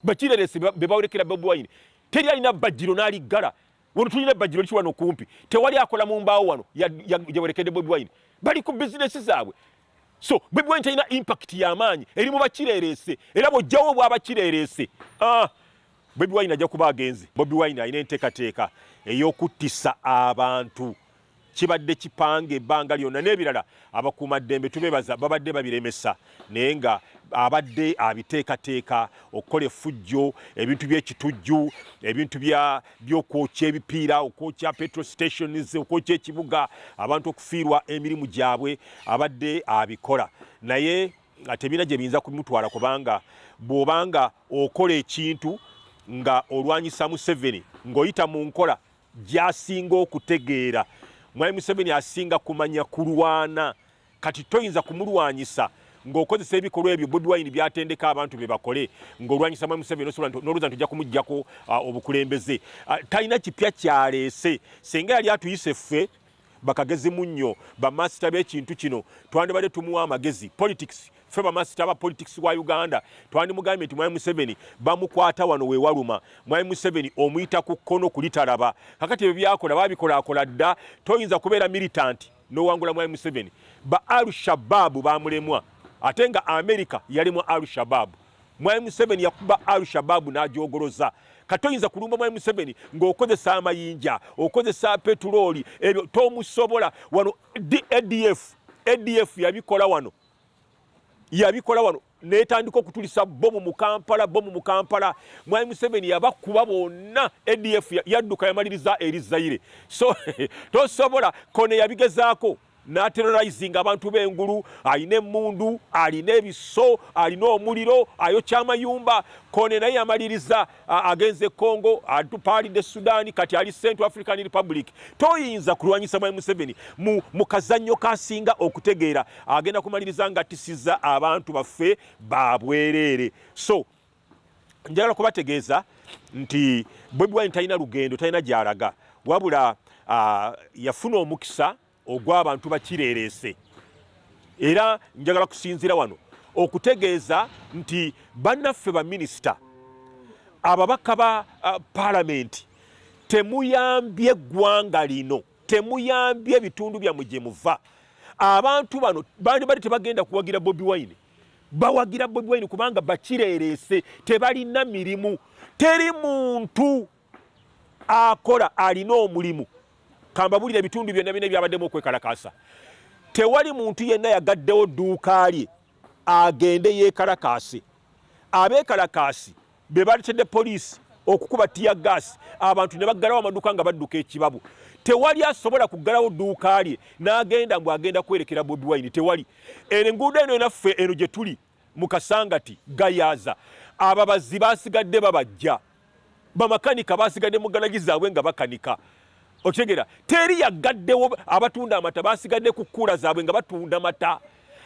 Bakireresi be bawolekera Bobi Wine. Teri alina bbajjiro n'aliggala. Wano tulina ebbajjiro liki wano kumpi. Tewali akola mu mbaawo wano yawerekedde Bobi Wine. Bali ku bizinesi zaabwe. So Bobi Wine talina impact y'amaanyi eri mu bakireresi era bw'oggyawo obwa bakireresi. Ah, Bobi Wine ajja kuba agenze. Bobi Wine alina enteekateeka ey'okuttisa abantu kibadde kipanga ebbanga lyonna n'ebirala abakuuma ddembe tubebaza babadde babiremesa naye nga abadde abiteekateeka okukola effujjo ebintu by'ekitujju ebintu by'okwokya ebipiira okwokya petro stations okwokya ekibuga abantu okufiirwa emirimu gyabwe abadde abikola naye tebina gye biyinza kumutwala kubanga bw'obanga okola ekintu nga olwanyisa museveni ng'oyita mu nkola gyasinga okutegeera mwami museveni asinga kumanya kulwana kati toyinza kumulwanyisa ng'okozesa ebikolwa ebyo bobi wine byatendeka abantu be bakole ng'olwanyisa mwami museveni osobola n'olowooza nti ojja kumugjako uh, obukulembeze uh, talina kipya kyaleese senga yali atuyise ffe bakagezi munnyo bamaasita b'ekintu kino twandibadde tumuwa amagezi politics ffe bamaasita ba politics wa uganda twandimugambye nti mwami museveni bamukwata wano wewaluma mwami museveni omuyita ku kkono kulitalaba kakati ebyo byakola babikolakola dda toyinza kubeera militant nowangula mwami museveni ba al shababu bamulemwa ate nga amerika yalemwa al shababu Mwami Museveni yakuba Al Shabaab n'agyogoloza. Kati oyinza kulumba Mwami Museveni ng'okozesa amayinja, okozesa petulooli, ebyo tomusobola. Wano ADF, ADF yabikola wano, yabikola wano netandika okutulisa bomu mu Kampala, bomu mu Kampala. Mwami Museveni yabakuba bonna, ADF yadduka yamaliriza eri Zaire. So tosobola, Kone yabigezaako. n'aterorizinga abantu b'engulu alina emmundu alina ebiso alina omuliro ayokya amayumba kone naye yamaliriza agenze e congo atupaalidde sudaani kati ali central african republic toyinza kulwanyisa mwami museveni mu, mu kazannyo kasinga okutegeera agenda kumaliriza nga tisiza abantu baffe babwereere so njagala kubategeeza nti Bobi Wine talina lugendo, talina gy'alaga, wabula uh, yafuna omukisa ogw'abantu bakireereese. Era njagala kusinzira wano okutegeeza nti bannaffe baminisita, ababaka ba uh, palamenti, temuyambye eggwanga lino, temuyambye ebitundu byammwe gye muva. Abantu bano bandi bali tebagenda kuwagira Bobi Wine. bawagira Bobi Wine kubanga bakireereese tebalina mirimu teri muntu akola alina omulimu kambabulira ebitundu byonna bina ebyabaddemu okwekalakaasa tewali muntu yenna yagaddewo dduuka lye agende yeekalakaase abeekalakaasi be baletedde poliisi okukuba tiya gaasi abantu ne baggalawo amaduuka nga badduka ekibabu tewali asobola kuggalawo dduuka lye n'agenda mbu agenda kwerekera bobi wine tewali eno enguudo eno enaffe eno gye tuli mu kasangati gayaaza ababazi basigadde babajja bamakanika basigadde mu ganagi zaabwe nga bakanika okitegera teri yaggaddewo abatunda amata basigadde ku kkuula zaabwe nga batunda mata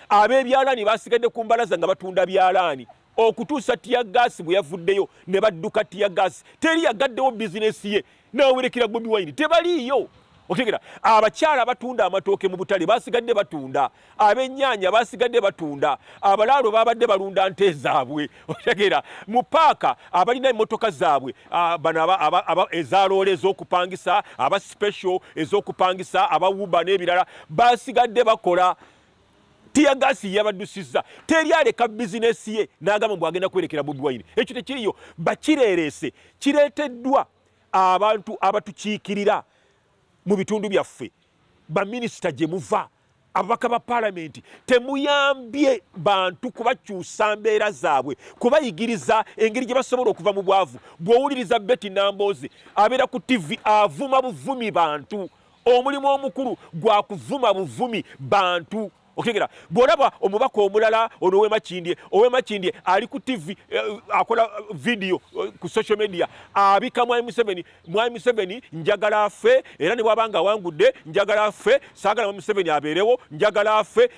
ab'ebyalaani basigadde ku mbalaza nga batunda byalaani okutuusa tiyagaasi bwe yavuddeyo ne badduka tiyagaasi teri yagaddewo bizinesi ye n'awerekera bobi wine tebaliiyo otegera abakyala abatunda amatooke mu butale basigadde batunda abennyanya basigadde batunda abalaalo babadde balunda nte zaabwe otegera mu paaka abalina emmotoka zaabwe bano ezaloole ez'okupangisa aba special ez'okupangisa aba wuba n'ebirala basigadde bakola tiyagaasi yabaddusizza teri aleka bizinesi ye n'agamba mbu agenda kwerekera bobi wine ekyo tekiriyo bakireereese kireeteddwa abantu abatukiikirira mu bitundu byaffe baminisita gye muva ababaka ba palamenti temuyambye bantu kubakyusa mbeera zaabwe kubayigiriza engeri gye basobola okuva mu bwavu bw'owuliriza beti namboozi abeera ku tivi avuma buvumi bantu Omulimu omukulu gwa kuvuma buvumi bantu okitegeera bw'olaba omubaka omulala ono owemakindye owemakindye ali ku tv eh, akola eh, vidiyo eh, ku social media abika mwami museveni mwami museveni njagala afe era ne bwaba nga awangudde njagala afe saagala mwami museveni abeerewo njagala afe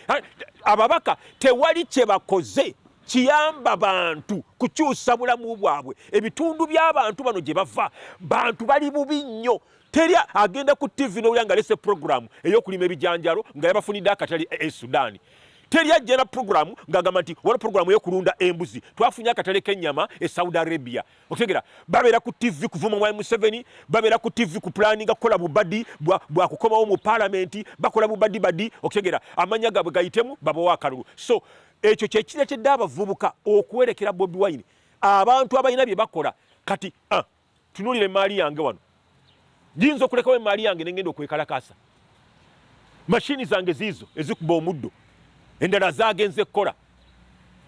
ababaka tewali kye bakoze kiyamba bantu kukyusa bulamu bwabwe ebitundu by'abantu bano gye bava bantu bali bubi nnyo Teri agenda ku TV n'owulira nga lese programu ey'okulima ebijanjalo nga yabafunidde akatale e Sudan. Teri ajja na programu ng'agamba nti waliwo programu ey'okulunda embuzi twafunye akatale k'ennyama e Saudi Arabia. Okitegera babeera ku TV kuvuma Mwami Museveni, babeera ku TV ku pulaninga kukola bubadi bwa kukomawo mu palamenti, bakola bubadi badi. Okitegera amanya gaabwe gayitemu babawo akalulu. So ekyo kye kireetedde abavubuka okuwerekera Bobi Wine abantu abalina bye bakola kati ah, Tunuulira emmaali yange wano, giyinza okulekawo emmaali yange ne ngenda okwekalakaasa. Mashini zange ziizo ezikuba omuddo, endala zaagenze kukola,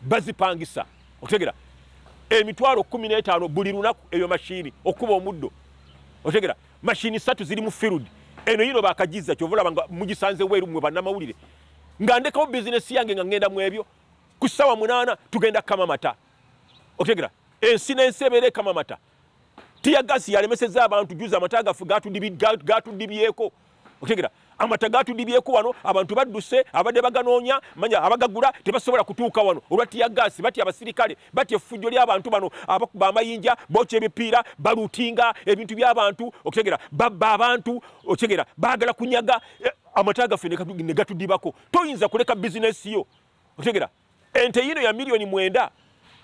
bazipangisa. Okitegera emitwalo kumi n'etaano buli lunaku eyo mashini okukuba omuddo. Okitegera mashini satu ziri mu field eno yino bakagiza kyova olaba nga mugisanze weeru mwe bannamawulire nga ndekawo bizinesi yange nga ngenda mu ebyo ku ssaawa munaana tugenda kukama mata otegera ensi n'ensi ebeera ekamamata tiyagasi yalemeseza abantu juza amata gaffe gatudibyeko otegera amata gatudibyeko wano abantu badduse abadde baganoonya manya abagagula tebasobola kutuuka wano olwa tiyagasi batya abasirikale batya effujjo ly'abantu bano abakuba amayinja bokya ebipiira balutinga ebintu by'abantu okutegera babba abantu otegera baagala kunyaga eh, amata gaffe ne gatudibako toyinza kuleka bizinesi yo otegera Ente yino ya milioni mwenda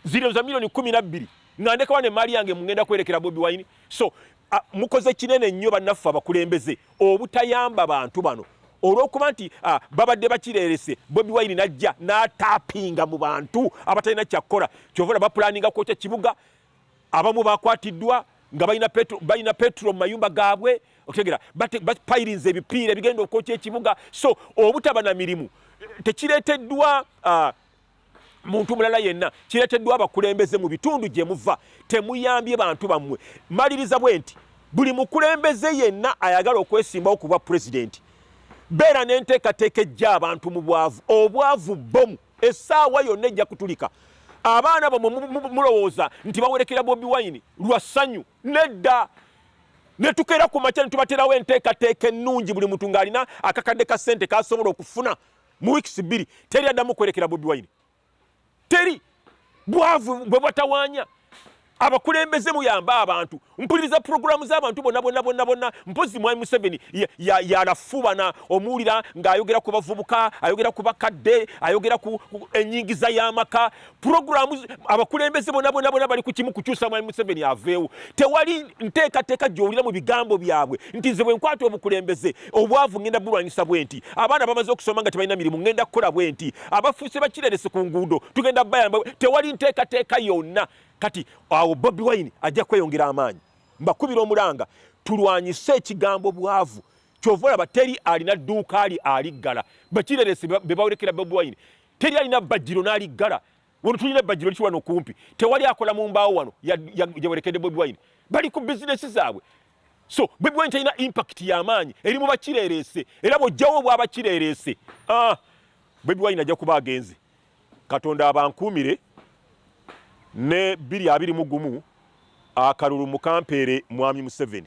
zino za milioni kumi na bbiri nga ndekawa ne mali yange mungenda kwerekera Bobi Wine. So a, mukoze kinene nnyo bannaffe abakulembeze obutayamba bantu bano olwokuba nti ah, babadde bakirerese bobi wine najja natapinga mu bantu abatalina kyakkola kyovula bapulaninga kwokya kibuga abamu bakwatiddwa nga balina petro mu mayumba gaabwe okitegera bapayirinza ebipiira ebigenda okwokya ekibuga so obutaba na mirimu tekireeteddwa ah, muntu mulala yenna kireeteddwa abakulembeze mu bitundu gye muva temuyambye bantu bammwe maliriza bwe nti buli mukulembeze yenna ayagala okwesimbawo ku bwa pulezidenti beera n'enteekateeka ejja abantu mu bwavu obwavu bomu Essaawa yonna ejja kutulika. Abaana bamwe mulowooza nti bawerekera Bobi Wine lwa ssanyu. Nedda! Ne tukeera ku makya ne tubateerawo enteekateeka ennungi buli muntu ng'alina akakadde ka ssente k'asobola okufuna mu wiikisi bbiri. Teri addamu kwerekera Bobi Wine. Teri! Bwavu bwe bwatawaanya. abakulembeze muyambe abantu mpuliriza puroguramu z'abantu bonna bonna bonna bonna mpozi mwami museveni yalafubana omuwulira ng'ayogera ku bavubuka ayogera ku bakadde ayogera ku enyingiza y'amaka puroguramu abakulembeze bonna bonna bonna bali ku kimu kukyusa mwami museveni aveewo tewali nteekateeka gy'owulira mu bigambo byabwe nti nze bwe nkwata obukulembeze obwavu ngenda bulwanyisa bwe nti abaana bamaze okusoma nga tebalina mirimu ngenda kukola bwe nti abafuuse bakirerese ku nguudo tugenda bayamba tewali nteekateeka yonna kati awo bobi wine ajja kweyongera amaanyi mbakubira omulanga tulwanyise ekigambo bwavu kyova olaba teri alina dduuka ali aliggala bakirerese bebawolekera bobi wine teri alina bajjiro n'aliggala wano tulina bajjiro liki wano kumpi tewali akola mu mbaawo wano yawerekedde bobi wine bali ku bizinesi zaabwe so bobi wine talina impact yamaanyi eri mu bakirerese era bwojjawo obwabakirerese ah, bobi wine ajja kuba agenze katonda abankuumire ne biri abiri mu gumu akalulu mukampeere mwami museveni